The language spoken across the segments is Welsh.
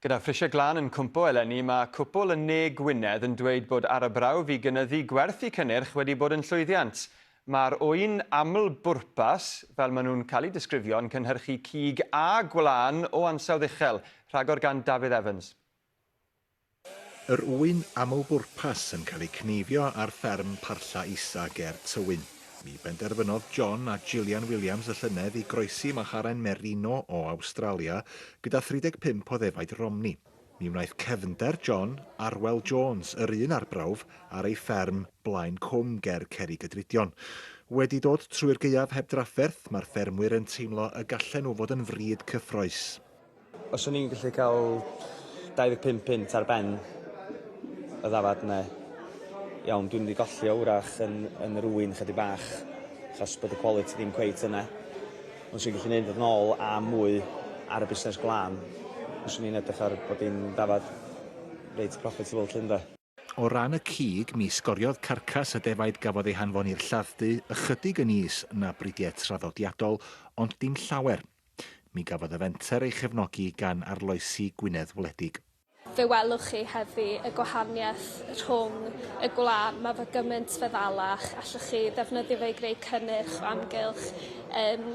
Gyda phrisiau glân yn cwmpo eleni, mae cwpwl yn Ne Gwynedd yn dweud bod arbrawf i gynyddu gwerth y cynnyrch wedi bod yn llwyddiant. Mae'r ŵyn aml-bwrpas, fel maen nhw'n cael eu disgrifio, yn cynhyrchu cig a gwlân o ansawdd uchel. Rhagor gan Dafydd Evans. Yr ŵyn aml-bwrpas yn cael eu cneifio ar fferm Parlla Isa ger Tywyn. Mi benderfynodd John a Jillian Williams y llynedd i groesi macharen merino o Awstralia gyda 35 o ddefaid Romney. Mi wnaeth cefnder John, Arwel Jones, yr un arbrawf, ar ei fferm, Blaen Cwm, ger Cerrigydrudion. Wedi dod trwy'r gaeaf heb drafferth, mae'r ffermwyr yn teimlo y gallen nhw fod yn frîd cyffrous. Os o'n i'n gallu cael 25 punt ar ben y ddafad yna, iawn, dwi'n mynd i golli o wrach yn, yn yr ŵyn chydig bach, achos bod y quality ddim cweit yna. Ond swn i'n gallu neud yn ôl a mwy ar y busnes glân, os o'n i'n edrych ar bod i'n ddafad reit profitable lly ynde? O ran y cig, mi sgoriodd carcas y defaid gafodd ei hanfon i'r lladd-dy ychydig yn is na bridiau traddodiadol, ond dim llawer. Mi gafodd y fenter ei chefnogi gan arloesi Gwynedd Wledig. Fe welwch chi heddi y gwahaniaeth rhwng y gwlân, mae fe gymaint feddalach, allwch chi ddefnyddio fe i greu cynnyrch o amgylch yn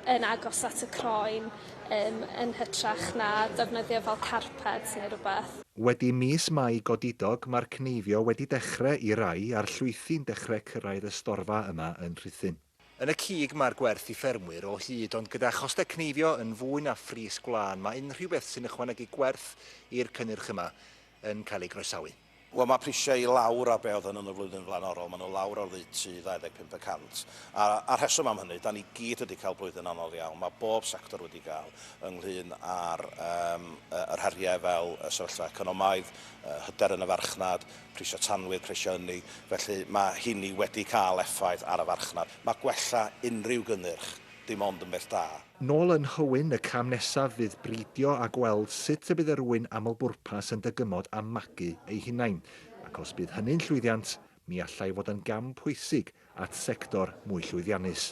yn agos at y croen. Yym yn hytrach na defnyddio fel carped neu rwbeth. Wedi mis Mai godidog mae'r cneifio wedi dechre i rai a'r llwythi'n dechre cyrraedd y storfa yma yn Rhuthun. Yn y cig mae'r gwerth i ffermwyr o hyd ond gyda choste cneifio yn fwy na phris gwlân mae unrhyw beth sy'n ychwanegu gwerth i'r cynnyrch yma yn cael ei groesawu. Wel, mae prisiau i lawr ar be oedd yn yn y flwyddyn flaenorol. Maen nhw lawr oddeutu 25 y cant. A, a'r rheswm am hynny, da ni gyd wedi cael blwyddyn anodd iawn. Mae bob sector wedi cael, ynglŷn â'r um, yr heriau fel y sefyllfa economaidd, uh, hyder yn y farchnad, prisiau tanwydd, prisiau ynni. Felly mae hynny wedi cael effaith ar y farchnad. Mae gwella unrhyw gynnyrch dim ond yn beth da. Nôl yn Nhywyn, y cam nesaf fydd bridio a gweld sut y bydd yr ŵyn aml-bwrpas yn dygymod a magu eu hunain, ac os bydd hynny'n llwyddiant, mi allai fod yn gam pwysig at sector mwy llwyddiannus.